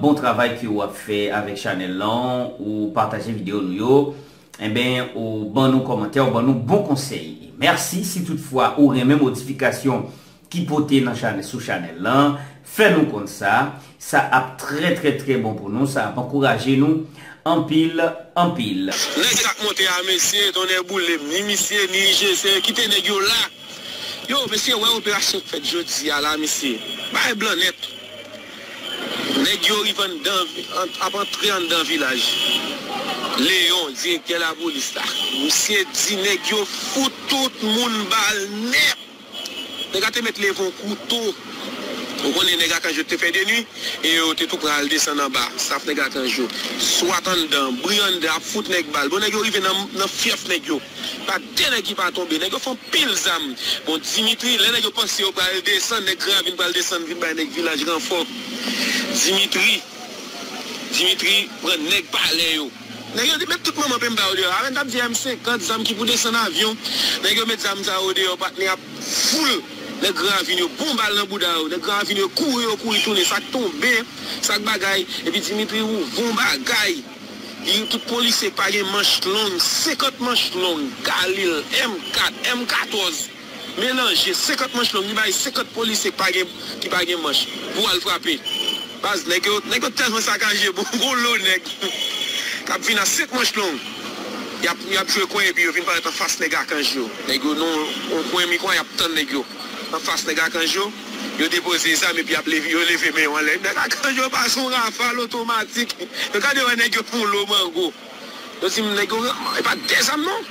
Bon travay ke ou ap fè avèk chanèl lan, ou pataje video nou yo, enben ou ban nou kòmantè, ou ban nou bon konsèy. Mèsi si tout fwa ou renmen modifikasyon ki pote nan chanèl sou chanèl lan, fè nou konn sa, sa ap trè trè trè bon pou nou, sa ap ankouraje nou. anpil anpil. Nèg sak monte a mesye tonnè boulem ni misye ni IGC kite nèg yo la yo mesye wè operasyon k fèt jodia la mesye bagay blan nèt nèg yo rive anndan ap antre anndan vilaj Léon direktè lapolis la misye di nèg yo fout tout moun bal nèt. Nèg la te mèt leve w kou to. Ou konnen nèg ak ange yo te fè de nwi e yo te tou pran al desann anba. Staff nèg la ak ange yo. Swat anndan, bri anndan ap fout nèg bal. Bon nèg yo rive nan fyèf nèg yo. Pa de nèg ki pa tonbe. Nèg yo fè yon pil zam. Bon Dimitri, lè nèg yo panse yo pral desann, nèg Gran Ravin pral desann vin bay nèg Vilaj ranfò. Dimitri Dimitri pran nèg palè yo. Nèg yo di met tout manman penmba yo deyò avèn tap di M 50 zam ki pou desann avyon nèg yo met zam sa yo deyò patnè ap foul nèg gran ravin yo bon bal nan bouda yo nèg gran ravin yo kouri yo kouri tounen sak tonbe sak bagay epi Dimitri ou von bagay li tout polisye pagen manch long 50 manch long galil M 4 M 14. Melanje 50 manch long li bay 50 polisye ki pa gen ki pa gen manch pou al frape baz nèg yo nèg yo tèlman sakaje bon gon lo nèg kap vin a 5 manch long yap yap jwe kwen epi yo vin parèt anfas nèg akanj yo nèg yo nan yon kwen mikwa yap tann nèg yo anfas nèg akanj yo yo depoze zam epi yap leve yo leve men yo anlè nèg akanj yo pa son rafal otomatik yo gade wè nèg yo fon lo mango. Yo dim nèg yo renmn epa de zam non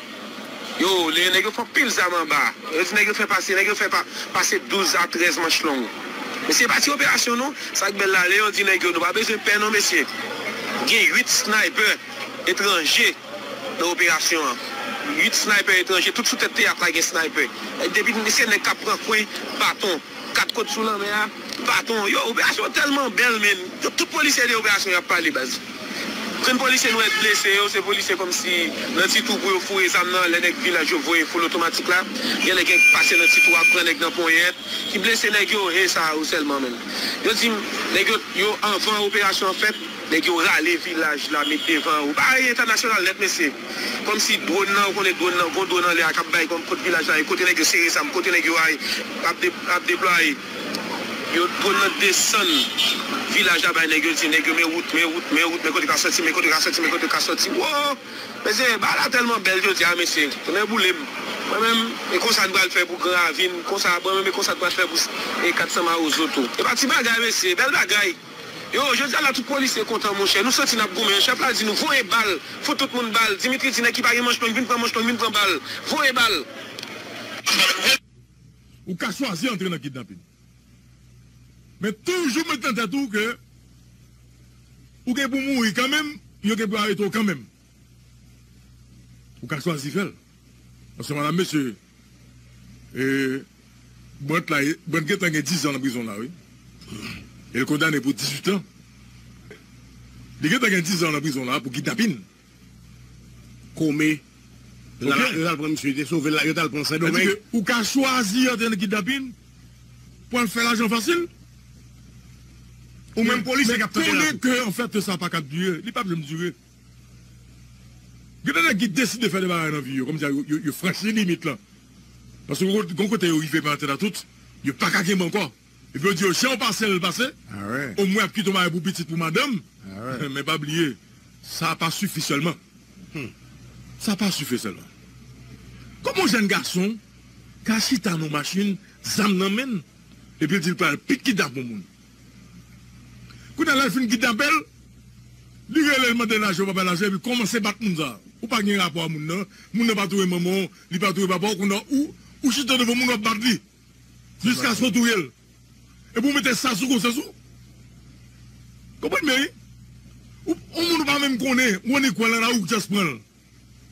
yo lire nèg yo fè anpil zam anba yo di nèg yo fè pase nèg yo fè pase 12 a 13 manch long mesye epa ti operasyon non sak bèl la leyon di nèg yo nou pa bezwen pè non mesye gen 8 snaypè etranje nan operasyon an 8 snaypè etranje tout sou tèt teyat la gen snaypè depi mesye nèg kap pran kwen baton. 4 kot sou lanmè a baton yo operasyon telman bel menn yo tout polisye de operasyon yap pale baz grenn polisye nou et blese yo se polisye komsi nan ti tou pou yo foure zam nan lè nèg vilaj yo voye foul otomatik la gen lè gen pase nan ti tou a pran nèg nan ponyèt ki blese nèg yo he sa yo selman menn yo dim nèg yo yo anvan operasyon an fèt nèg yo rale vilaj la met devan yo bagay entènasyonal nèt mesye. Komsi dwon nan ou konnen dwon nan gon dwon anlè a kap bay kòm kot vilaj la ye kote nèg yo sere zam kote nèg yo ay ap deplwaye yo dwon nan desann vilaj la bay nèg yo di nèg yo men wout men wout men wout men kote ka soti men kote ka soti men kote ka soti woo mesye bagay la tèlman bèl jodia mesye nè boulem mwen menm e konsa n pral fè pou gran ravin konsa mwen menm e konsa n pral fè pou 400 mawozo tou e pa ti bagay mesye bèl bagay. Yo, jodia la tout polisye kontan monchè, nou santi nap goumen, chèf la di nou voye bal, fout tout moun bal, Dimitri di nèg ki pa gen manch long vin pran manch long vin pran bal, voye bal. Ou ka chwazi antre nan kidnapin. Men toujou met nan tèt ou ke ou gen pou mouri kanmenm, yo gen pou arete w kanmenm. Ou ka chwazi fèl. Paske madam mesye Brandt la Brandt gentan gen 10 ans nan prizon la wi el kondane pou 18 ans li gentan gen 10 ans nan prizon la pou kidnapin. Kome yo tal pran misye yo te sovel la yo tal pran sendomeng. Sadi ke ou ka chwazi antre nan kidnapin pou al fè lajan fasil ou menm polisye kap tande la tou. Men konnen ke anfèt sa paka dire li pap janm dire. Gen de nèg ki deside fè de bagay nan vi yo kòmsi yo franchi limit lan paske gon kote yo rive men antèt a tout yo paka kenbe ankò epi yo di yo jan w pase l pase o mwen ap kite w bagay pou pitit pou madanm men pa bliye sa pa sifi sèlman sa pa sifi sèlman kòman yon jèn gason ka chita nan yon machin zam nan men l epi l di l pral pit kidnap yon moun Kounye a lè l fin kidnape l, li rele l mande lajan, yo pa ba l lajan epi kòmanse bat moun sa. Ou pa gen rapò a moun nan, moun nan pa touye manman w, li pa touye papa w, kounye a ou chita devan moun w ap bat li jiskaske w touye l. Epi ou mete sa sou konsyans ou. Konprann byen wi. Yon moun ou pa menm konnen, ou annik wè l nan lari ou just pran l.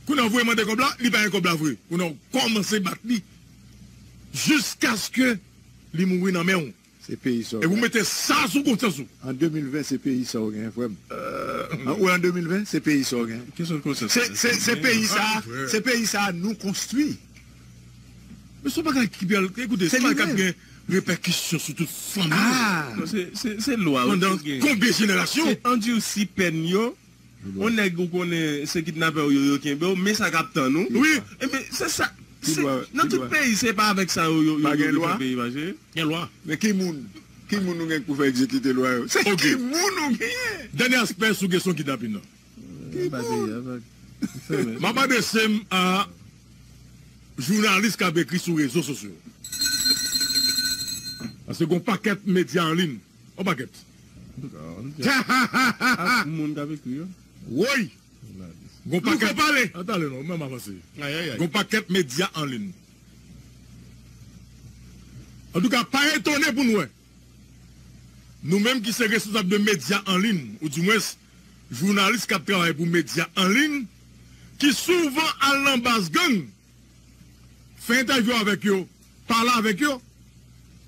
Kounye a ou voye mande kòb la, li pa gen kòb la vre. Kounye a ou kòmanse bat li jiskaske li mouri nan men w. Se peyi sa w genyen. An 2020 se peyi sa w genyen frè m. Ou an 2020 se peyi sa w genyen. Se peyi sa a se peyi sa a nou konstwi. Men son bagay ki pral ekoute son bagay k ap gen repèkisyon sou tout fanmi yo pandan konbyen jenerasyon. Se andirsi pèn yo. On nèg ou konnen se kidnapè ou yo yo kenbew men sa kap tann ou wi ebyen se sa se nan tout peyi se pa avèk sa yo yo yo fè peyi mache gen lwa men ki moun ki moun ou gen pou fè egzekite lwa yo se ki moun ou genyen dènye aspè sou kesyon kidnapin nan ki moun map adresem a jounalis kap ekri sou rezo sosyo paske gon pakèt medya anlin. On pakèt. Woy! Gon pakèt medya an lin. Antouka, pa etone pou n wè, nou menm ki se responsab de medya an lin, ou di mwens jounalis k ap travay pou medya an lin, ki souvan al nan baz gang, Fè entèvyou avèk yo, pale avèk yo.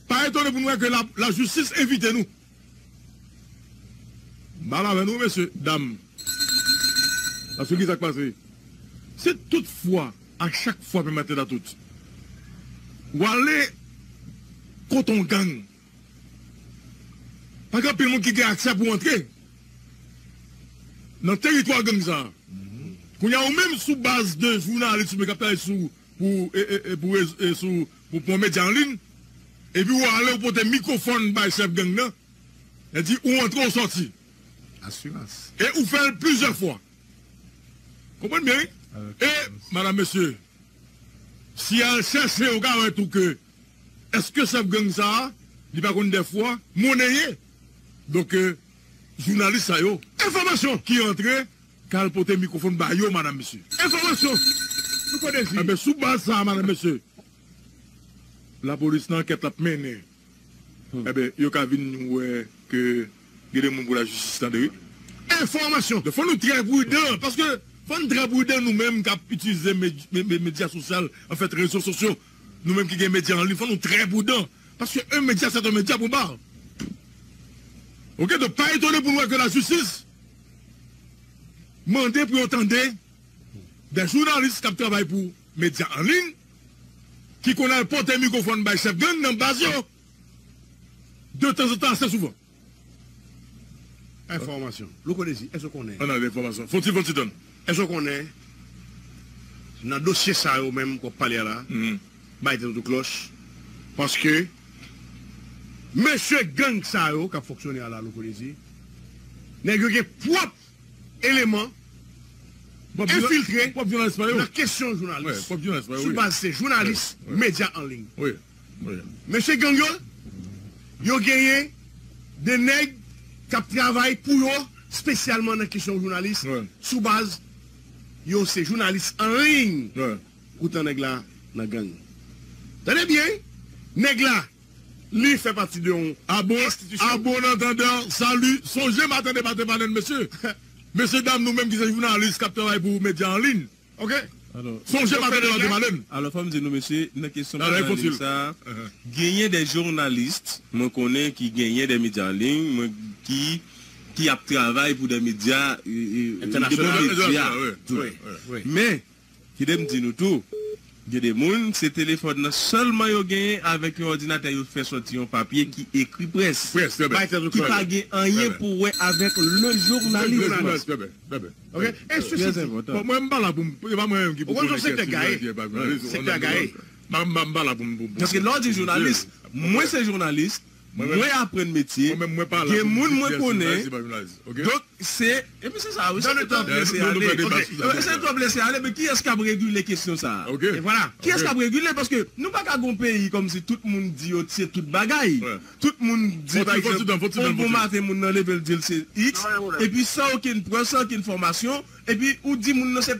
Pa etone pou nou wè ke lajistis envite nou. M pale avè nou mesye, dam. Paske kisa k pase? Si tout fwa ak chak fwa, Pè Matelatout, w ale kote yon gang. Pa gen anpil moun ki gen aksè pou antre nan teritwa gang sa a. Kounye a ou menm sou baz de jounalis ou menm k ap travay sou pou pou medya an liy epi ou ale ou pote mikwofòn bay chèf gang nan e di ou antre ou sòti e ou fè l plizyè fwa. Konprann byen wi e madam mesye si y al chèche ou ka wè tou ke Eske chef gang sa a li pa konn dèfwa monnen ye donk jounalis sa yo. Enfòmasyon ki antre kal pote mikrofon ba yo madam mesye. Enfòmasyon nou konn dezi. Enben sou baz sa a madam mesye lapolis nan ankèt lap mennen enben yo ka vin wè ke gen de moun pou lajistis tande wi. Enfòmasyon donk fò nou trè pridan paske fò nou trè pridan nou menm kap itilize medya sosyal anfèt rezo sosyo. Nou menm ki gen medya anliy fò nou trè prudan paske un medya sèt un medya pwen bar ok donk pa etone pou nou wè ke la jistis mande pou yo tande dè jounalis kap travay pou medya anliy ki konn al pote mikrofòn bay chèf gang nan baz yo de tanzantan ase souvan. Enfòmasyon. Louko Dezi, èske w konnen. An ale, enfòmasyon. Fon ti, fon ti tann. Èske w konnen, nan dosye sa yo menm ke w ap pale a la, bay tèt ou tou klòch, paske mesye gang sa yo k ap fonksyone a la, Louko Dezi, nèg yo gen pwòp eleman enfiltre nan kesyon jounalis, sou baz se jounalis medya an liy. Mesye gang yo, yo genyen de nèg k ap travay pou yo spesyalman nan kesyon jounalis sou baz yo se jounalis an liy poutan nèg la nan gang. Tande byen wi, nèg la li fè pati de yon enstitisyon. A bon antandè, sali, sonje m a tande pa te pale n mesye. Mesye dam nou menm ki se jounalis k ap travay pou medya an liy. Ok sonje pa fè debake male m. Alò fòm di nou mesye nan kesyon medya an liy sa genyen de journalist mwen konnen ki genyen de medya an liy mwen ki ki ap travay pou de medya entènasyonal men kidem di nou tou. Gen de moun, se telefòn nan sèlman yo genyen, avèk yon òdinatè yo fè sòti yon papye ki ekri près, ki pa gen anyen pou wè avèk lejounalis. mwen aprann metye, gen moun mwen konnen, donk se dans le temps presse ale, ok, se tan prese ale men kiyès kap regile kesyon sa a, kiyès kap regile paske nou pa ka gen yon peyi kòmsi tout moun di yo se tout bagay, tout moun di pa egzanp yon bon maten moun nan leve l di l se iks epi san okenn prèv, san okenn fòmasyon epi ou di moun nan se.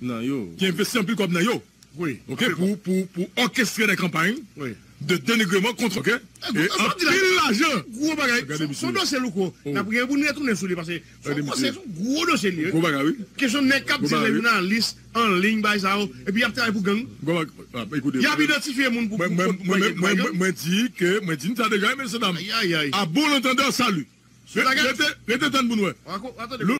nan yo. Ki envesti anpil kòb nan yo ok pou òkestre dè kanpay de denigreman kont ok e anpil lajan. Gwo bagay son dosye louko nap gen pou n retounen sou li pase foko se yon gwo dosye li ye gwo bagay wi kesyon nèg kap di jounalis an liy bay sa yo epi yap travay pou gang yap idantifye moun pou mwen di ke mwen di n sa deja mesye dam a bon lantandan salu rete tann pou n wè.